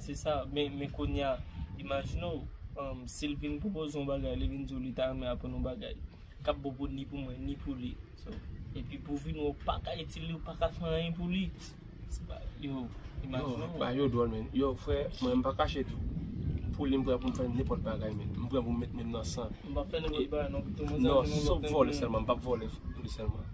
Se sa, men kounya, imajine w, si l vin pwopoze yon bagay, li vin di w li ta renmen aprann yon bagay, k ap bon pou ni pou mwen, ni pou li. Epi pou w vin wè w pa ka itil li, w pa ka fè anyen pou li. Se pa, yo, imajine w. Bagay yo dwòl menn. Yo, frè, mwen m pa kache tou. Pou li m prè pou m fè nenpòt bagay menn. M prè pou m met men m nan san. M pa fè nenpòt bagay non. Non, sòf vòlè sèlman. M pa p vòlè pou li sèlman.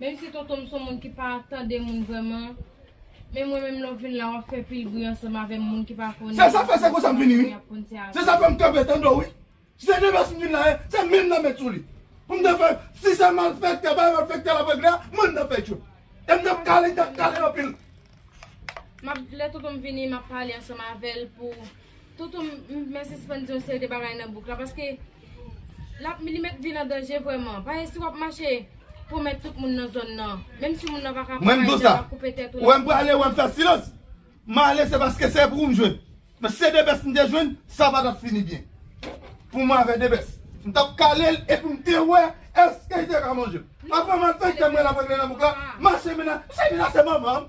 Menm si tonton m son moun ki pa tande moun vrèman Men mwen menm lè w vin la wap fè pil bri ansanm avè m moun ki pa konnen Se sa fè se konsa m vini wi Se sa fè m kanpe tande w wi Si se nevès m vin la ye se menm nan met sou li Pou m te fè si se malfèktè bay malfèktè lap regle a mwen m tap fè tchoul E m tap kale tap kale anpil Map lè tonton m vini map pale ansanm avè l pou Toto m mwen sispann di yon seri de bagay nan bouk la paske lap li met vi l an danje vrèman paske si wap mache pwomèt tout moun nan zòn nan menm si moun nan paka pran mayi lap koupe tèt ou lap koupe tèt ou m ale se paske se pou ou m jwenn men si se debès m te jwenn sa pa tap fini byen pou mwen avè debès m tap kale l epi m te wè èske li te ka manje m apre malfektè m wè lap regle nan bouk la mache m menase manman m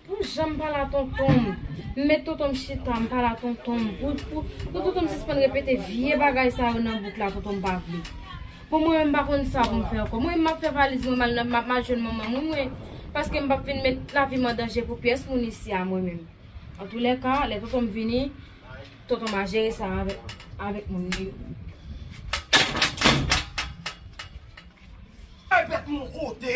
Pou janm pa la tontonm. M met tontonm chita m pa la tontonm. Pou tontonm sispann repete vye bagay sa yo nan bouk la tontonm pa vle. Bon mwen menm m pa konn sa pou m fè ankò. Mwen menm m ap fè valiz mwen mal nan mal jwenn manman m wi. Paske m pap vin met lavi m an danje pou pyès moun isi a mwen menm. Antoulèka lè tontonm vini tontonm a jere sa avèk moun li yo. Ay bèt mwen kote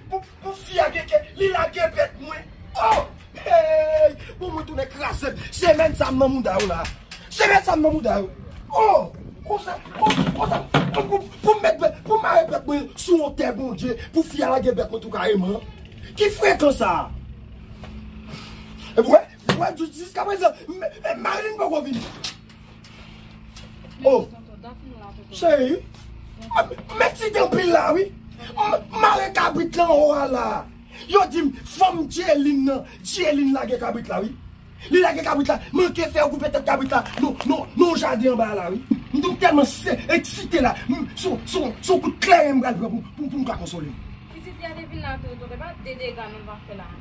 pou fi a gen kè li lage bèt mwen oh heyy bon mwen tounen krazem semèn sa m nan mouda yo la semèn sa m nan mouda yo oh konsa konsa poum met bèt poum mare bèt mwen sou yon tè bondye pou fi a lage bèt mwen tou kareman ki frekan sa epi wè wè jiskaprezan marim poko vini. Oh, chéri, mèt si gen pil la wi, mare kabrit lan ou a la. Yo di m, fanm Dieline nan, Dieline lage kabrit la wi. Li lage kabrit la, manke fè yo koupe tèt kabrit la nan jaden anba a la wi. M tou tèlman eksite la, son kout kleren m pral pran pou m ka konsole l. Pitit, gade vin la tou, tonton, e pa de dega nou pa fè la.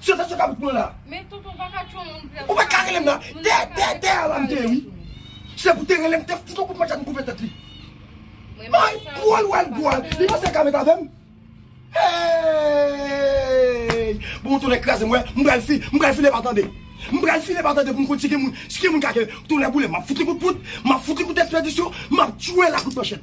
Sè fè sou kabrit mwen la. Men tonton ou pa ka tchon moun frè. Ou pat ka relem la. Tè tè tè a la m te ye wi. Se pou te relem te fout on kout manchèt m koupe tèt li. May pwan l wè l gwa l. Li panse l ka met avè m. Eeyy bon tonnè kraze m wè m pral fi m pral file pa tande. M pral file pa tande pou m konn si gen moun si gen moun ka ke tonnè boule m ap fout li kout poud m ap fout li kout espedisyon m ap tchwe l a kout manchèt.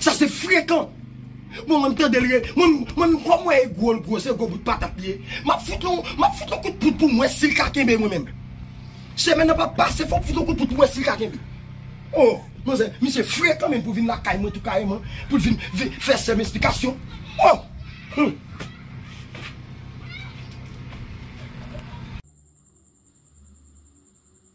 Sa se frekan. Bon mwen m tandel re mwen m kom wè e gwo l gwo se gwo bout patat li ye map fout yon map fout yon kout poud pou m wè sil ka kenbe mwen menm semèn nan pap pase fòm fout yon kout poud pou m wè sil ka kenbe oh manzè misye frekan menm pou vin lakay mwen tou kareman pou l vin vin fè sèm esplikasyon oh humm.